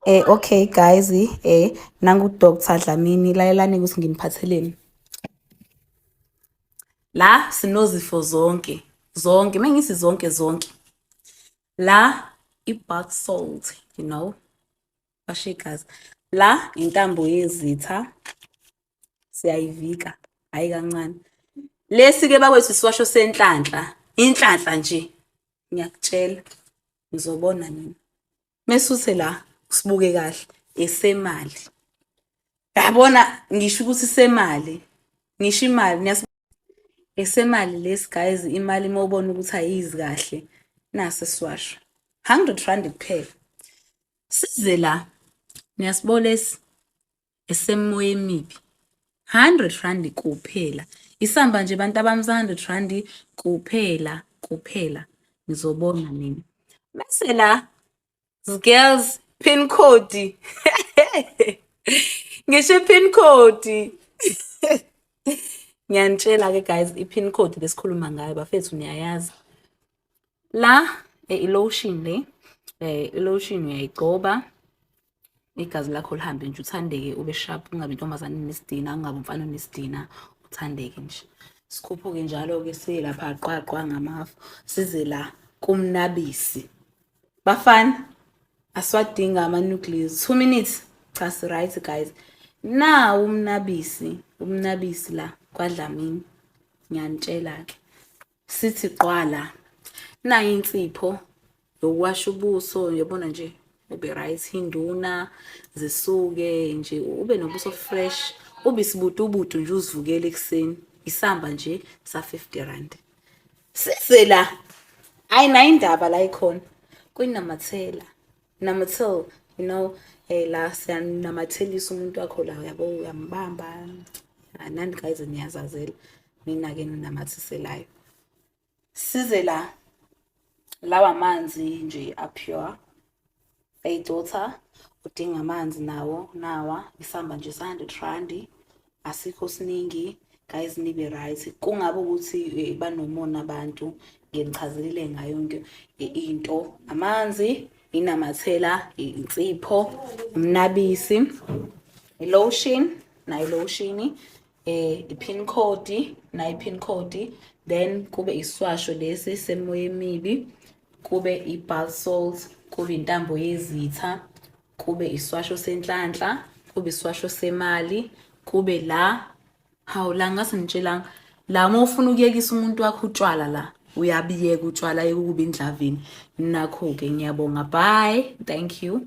Eh okay guys eh nangu Dr Dlamini lalelani ukuthi nginiphatheleni. La sinozifo zonke zonke mengisi zonke zonke. La ibath salt you know. Bashe guys. La intambo yezitha siyayivika hayi kancane lesi ke bakwethu siwasho senhlanhla inhlanhla nje ngiyakutshela ngizobona nini mesuse la sibuke kahle esemali yabona ngisho ukuthi semali ngisho imali niyas esemali lesi guys imali uma ubona ukuthi ayizi kahle nase siwasho 100 rand kuphela size la niyasibona lesi esemoya emibi 100 rand kuphela isamba nje bantu abami 100 rand kuphela kuphela ngizobona mina bese la girls pin code ngisho pin code ngiyanitshela ke guys i pin code lesikhuluma ngayo bafethu niyayazi la eh, i lotion le eh, i lotion uyayigcoba igazi lakho lihambe nje uthandeke ube sharp ungabi intombazane nesidina ungabi umfana onesidina uthandeke nje sikhuphuke njalo-ke silapha qwaqwa ngamafu size la kumnabisi bafana asiwadinga ama-nucleus two minutes cha si-right guys na umnabisi umnabisi la kwadlamini ngiyanitshela-ke sithi qwala nayo insipho yokuwasha ubuso yobona nje ube right induna zisuke nje ube nobuso fresh ube sibutubutu nje uzivukele ekuseni isamba nje sa 50 rand size la ayina indaba la ikhona kwinamathela number two you know hey la siyanamathelisa umuntu wakho la uyabo uyambamba anani guys niyazazela mina ke ninamathiselayo size la lawa manzi nje apure hey daughter udinga amanzi nawo nawa isamba nje 100 randi asikho siningi guys nibe right kungabe ukuthi eh, banomona abantu ngenichazelile ngayo yonke eh, into amanzi inamathela insipho umnabisi lotion nayo lotion eh ipin code nayo ipin code then kube iswasho lesi semoya emibi kube iball salt kube intambo yezitha kube iswasho senhlanhla kube iswasho semali kube la hawu la ngase ngitshelanga la uma ufuna ukuyekisa umuntu wakho utshwala la uyabiyeka utshwala yekukuba indlavini nakho-ke ngiyabonga bye thank you